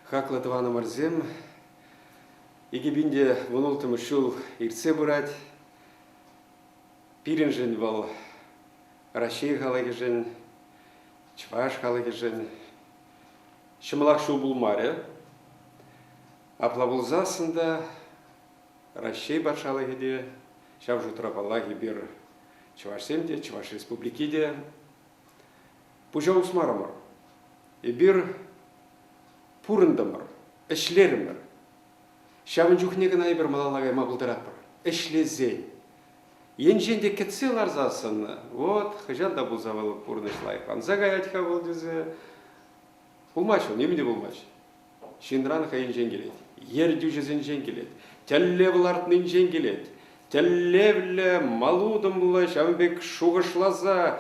Хаклӑ тӑванӑмӑрсем, икӗ пин те вун улттӑмӗш ҫул иртсе пырать. Пирӗншӗн вӑл Раҫҫей халӑхӗшӗн, чӑваш халӑхӗшӗн ҫӑмӑлах ҫул пулмарӗ. Апла пулсассӑн та Раҫҫей патшалӑхӗ те, ҫав шутра паллах, эпир чӑвашсем те, Чӑваш Республики те пуҫа усмарӑмӑр. Эпир пурӑнтӑмӑр, ӗҫлерӗмӗр. Ҫавӑн чухне кӑна эпир малалла кайма пултаратпӑр. Ӗҫлесен. Енчен те кӗтсе ларсассӑн, вот хӑҫан та пулса вӑл пурнӑҫ лайӑхланса каять-ха вӑл тесе, пулмасть вӑл, нимӗн те пулмасть. ҫынран хӑйӗнчен килет, ертӳҫӗсенчен килет, тӗллев лартнинчен килет. Тӗллевлӗ, малутӑмлӑ ҫавӑн пек шухӑшласа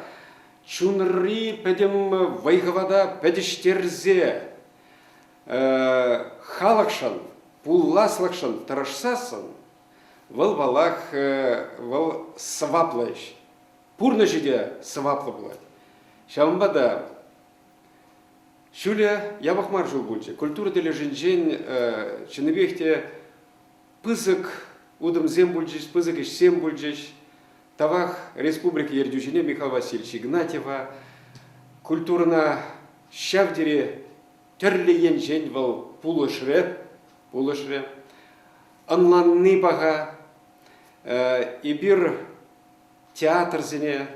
чунри пӗтӗм вӑй-хӑвата пӗтӗҫтерсе халӑхшӑн, пуласлӑхшӑн тӑрӑшсассӑн вӑл паллах вӑл сӑваплӑ ӗҫ. Пурнӑҫӗ те сӑваплӑ пулать. Ҫавӑнпа та Ҫӳле япӑх мар ҫул пулчӗ. Культура тӗлӗшӗнчен чӑннипех те пысӑк утӑмсем пулчӗҫ, пысӑк ӗҫсем пулчӗҫ. Тавах республика ертӳҫине Михаил Васильевич Игнатьева. Культурӑна ҫав тери тӗрлӗ енчен вӑл пулӑшрӗ. пулӑшрӗ. Ӑнланни паха. Эпир театрсене,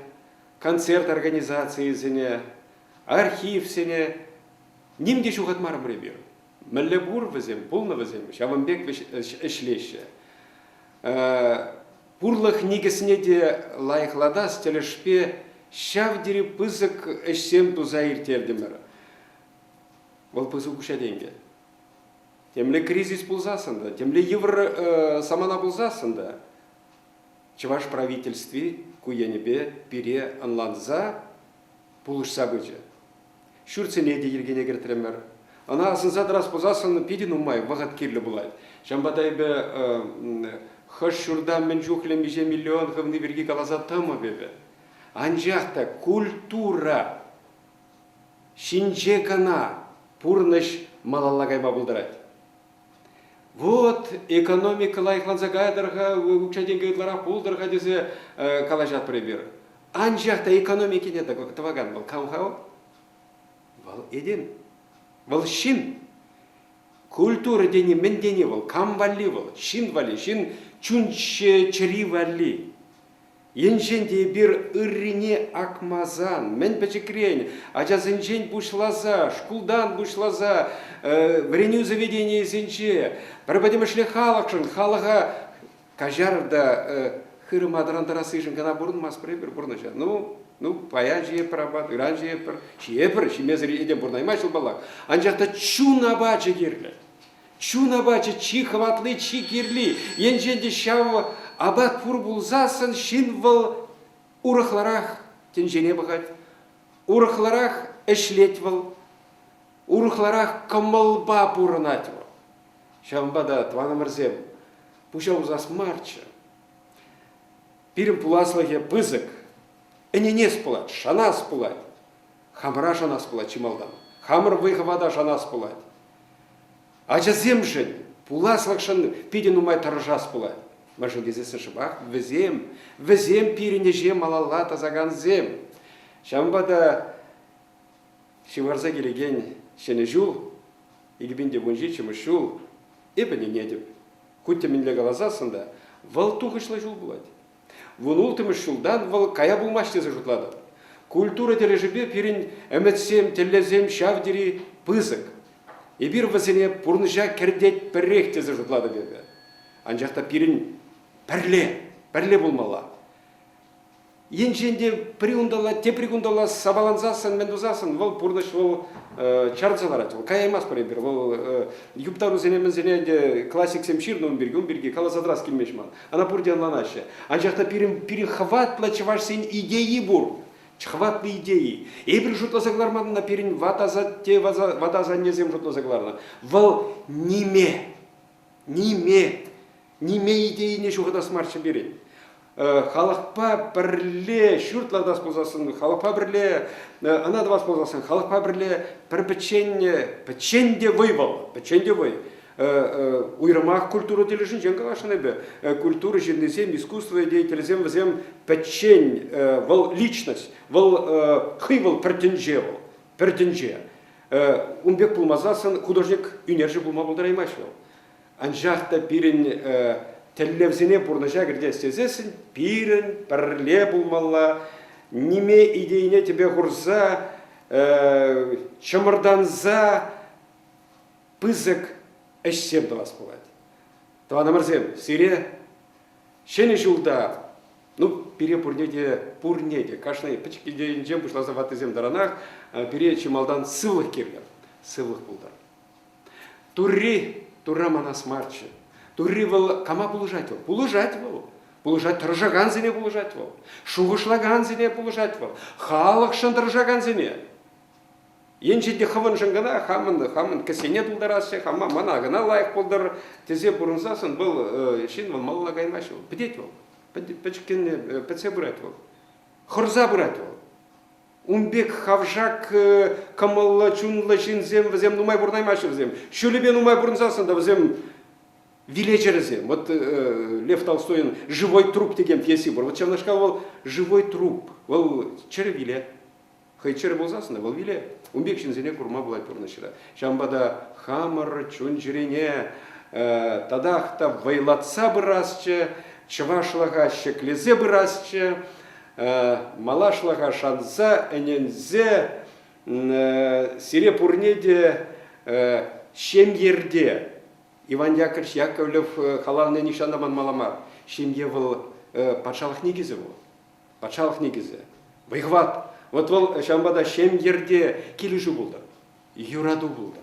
концерт организацийӗсене, архивсене ним те ҫухатмарӑмӑр эпир. Мӗнле пур вӗсем, пулнӑ вӗсем, ҫавӑн пек ӗҫлеҫҫӗ. Пурлӑх никӗсне те лайӑхлатас тӗлӗшпе ҫав тери пысӑк ӗҫсем туса ирттертӗмӗр. Вӑл пысӑк укҫа тенкӗ. Темле кризис пулсассӑн та, темле йывӑр самана пулсассӑн та чӑваш правительстви ку енӗпе пире ӑнланса пулӑшса пычӗ. Ҫуртсене те йӗркене кӗртрӗмӗр. Ӑна асӑнса тӑрас пулсассӑн питӗ нумай вӑхӑт кирлӗ пулать. Ҫавӑнпа та эпӗ хӑш ҫурта мӗн чухлӗ миҫе миллион хывни пирки каласа тӑмӑп эпӗ. Анчах та культура ҫинче кӑна пурнӑҫ малалла кайма пултарать. Вот, экономика лайӑхланса кайтӑр-ха, укҫа-тенкӗ ытларах пултӑр-ха тесе калаҫатпӑр эпир. Анчах та экономикине тӑвакан вӑл кам-ха? Вӑл этем. Вӑл ҫын. Культура тени мӗн тени вӑл? Кам валли вӑл? Ҫын валли, ҫын чун чӗри валли. Енчен те эпир ыррине акмасан, мӗн пӗчӗкрен ачасенчен пуҫласа, шкултан пуҫласа вӗренӳ заведенийӗсенче пӗр пӗтӗмӗшле халӑхшӑн, халӑха каҫар та хырӑма тӑрантарассишӗн кӑна пурӑнмастпӑр эпир пурнӑҫа. Ну, ну, паян ҫиеппӗр апат, ыран ҫиеппӗр, ҫиепӗр, ҫимесӗр этем пурӑнаймасть ҫул паллах. Анчах та чун апачӗ кирлӗ. Чун апачӗ чи хӑватли, чи кирли. Енчен те ҫав апат пур пулсассӑн ҫын вӑл урӑхларах тӗнчене пӑхать, урӑхларах ӗҫлет вӑл, урӑхларах кӑмӑлпа пурӑнать вӑл. Ҫавӑнпа та, тӑванӑмӑрсем, пуҫа усас марччӗ. Пирӗн пуласлӑхӗ пысӑк. Ӗненес пулать, шанас пулать. Хамӑра шанас пулать чи малтан. Хамӑр вӑй-хӑвата шанас пулать. Ачасемшӗн, пуласлӑхшӑн питӗ нумай тӑрӑшас пулать. Мӗншӗн тесессӗн шӑпах вӗсем, вӗсем пирӗн ӗҫе малалла тӑсакансем. Ҫавӑнпа та ҫывхарса килекен Ҫӗнӗ ҫул, икӗпинте вунҫи чӑмӑш ҫул, эпӗ ӗненетӗп. Хуть те мӗнле каласассӑн та, вӑл тухӑҫлӑ ҫул пулать. Вун улттӑмӗш ҫултан вӑл кая пулмасть тесе шутлатӑп. Культура тӗлӗшӗпе пирӗн ӗмӗтсем, тӗллевсем ҫав тери пысӑк. Эпир вӗсене пурнӑҫа кӗртетпӗрех тесе шутлатӑп эпӗ. Анчах та пирӗн пӗрле, пӗрле пулмалла. Енчен те пӗри унталла, тепри кунталла сапалансассӑн, мӗн тусассӑн, вӑл пурнӑҫ вӑл чарӑнса ларать. Вӑл каяймастпӑр эпир. Вӑл юптарусене мӗнсене ӗнтӗ классиксем ҫырнӑ ун пирки, ун пирки каласа тӑрас килмест ман. Ӑна пурте ӑнланаҫҫӗ. Анчах та пирӗн, пирӗн хӑватлӑ чӑвашсен идейи пур. Хӑватлӑ идеи. Эпир шутласа кӑларман ӑна пирӗн ватасатте, ват асаннесем шутласа кӑларнӑ. Вӑл ниме, ниме, ниме идейине ҫухатас марччӗ пирӗн. Халӑхпа пӗрле ҫурт лартас пулсассӑн, халӑхпа пӗрле ӑна тӑвас пулсассӑн, халӑхпа пӗрле пӗр пӗччен, пӗччен те вӑй вӑл, пӗччен те вӑй. Уйрӑмах культура тӗлӗшӗнчен каласшӑн эпӗ. Культура ҫыннисем, искусство деятелӗсем вӗсем пӗччен, вӑл личность, вӑл хӑй вӑл пӗр тӗнче вӑл, пӗр тӗнче. Ун пек пулмасан художник ӳнерҫӗ пулма пултараймасть вӑл. Анчах та пирӗн тӗллевсене пурнӑҫа кӗртес тесессӗн пирӗн пӗрле пулмалла, ниме идейине тӗпе хурса, чӑмӑртанса пысӑк ӗҫсем тӑвас пулать. Тӑванӑмӑрсем, сире Ҫӗнӗ ҫулта, ну, пире пурне те, пурне те, кашни пӗчӗк килтенчен пуҫласа ваттисем таранах, э, пире чи малтан сывлӑх кирлӗ, сывлӑх пултӑр. Турри, Турра манас марччӗ. Турри вӑл кама пулӑшать вӑл? Пулӑшать вӑл. Пулӑшать тӑрӑшакансене пулӑшать вӑл. Шухӑшлакансене пулӑшать вӑл. Халӑхшӑн тӑрӑшакансене. Енчен те хӑвӑншӑн кӑна хамӑн хамӑн кӗсене тултараҫҫӗ, хама мана кӑна лайӑх пултӑр тесе пурӑнсассӑн вӑл ҫын вӑл малалла каймасть вӑл, пӗтет вӑл, пӗчӗккӗн пӗтсе пырать вӑл, хӑрса пырать вӑл. Ун пек хавшак кӑмӑллӑ, чунлӑ ҫынсем вӗсем нумай пурӑнаймаҫҫӗ вӗсем. Ҫулӗпе нумай пурӑнсассӑн та вӗсем вилеҫерӗсем. Вот Лев Толстойӑн «Живой труп» текен пьеси пур. Вот ҫавнашкал вӑл «Живой труп». Вӑл чӗрӗ виле. Хӑй чӗрӗ пулсассӑн вӑл виле. Ун пек ҫынсене курма пулать пурнӑҫра. Ҫавӑнпа та хамӑр чун-чӗрене татах та вӑйлатса пырасчӗ, чӑвашлӑха ҫӗклесе пырасчӗ, малашлӑха шанса, ӗненсе, сире пурне те ҫемйӗрте Иван Яковлевич Яковлев халалне нихҫан та манмалла мар ҫемье вӑл патшалӑх никӗсӗ вӑл. патшалӑх никӗсӗ, вӑй-хӑват. Вот вӑл ҫавӑнпа та ҫемйӗрте килӗшӳ пултӑр, юрату пултӑр.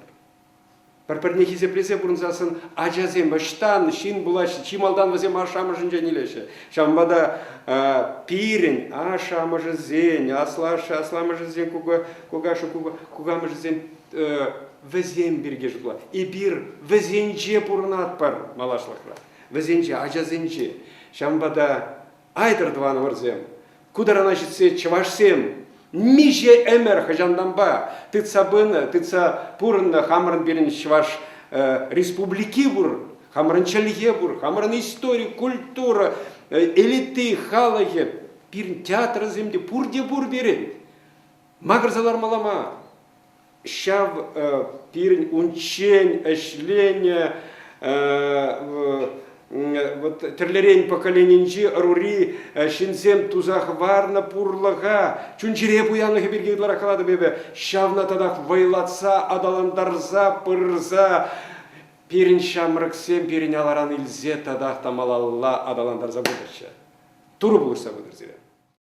Пӗр-пӗрне хисеплесе пурӑнсассӑн ачасем ӑҫтан ҫын пулаҫҫӗ, чи малтан вӗсем ашшӗ-амӑшӗнчен илеҫҫӗ. Ҫавӑнпа та пирӗн ашшӗ-амӑшӗсен, асламӑшӗсен, кукамӑшӗсен вӗсем пирки шутлав. Эпир вӗсенче пурӑнатпӑр малашлӑхра, вӗсенче, ачасенче. Ҫавӑнпа та Айтӑр тӑванӑмӑрсем, ку тарана ҫитсе чӑвашсем миҫе ӗмӗр хӑҫантанпа тытса пынӑ, тытса пурӑннӑ хамӑрӑн пирӗн чӑваш республики пур, хамӑрӑн чӗлхе пур, хамӑрӑн истори, культура, элиты, халӑхӗ, пирӗн театрсем те пурте пур пирӗн. Макӑрса лармалла мар. ҫав пирӗн унччен ӗҫленӗ вот тӗрлӗрен поколенинчи ӑрури ҫынсем туса хӑварнӑ пурлӑха чун-чӗре пуянлӑхӗ пирки ытларах калатӑп эпӗ ҫавна татах вӑйлатса аталантарса пырса пирӗн ҫамрӑксем пирӗн аларан илсе татах та малалла аталантарса пытӑрччӗ турӑ пулӑшса пытӑр сире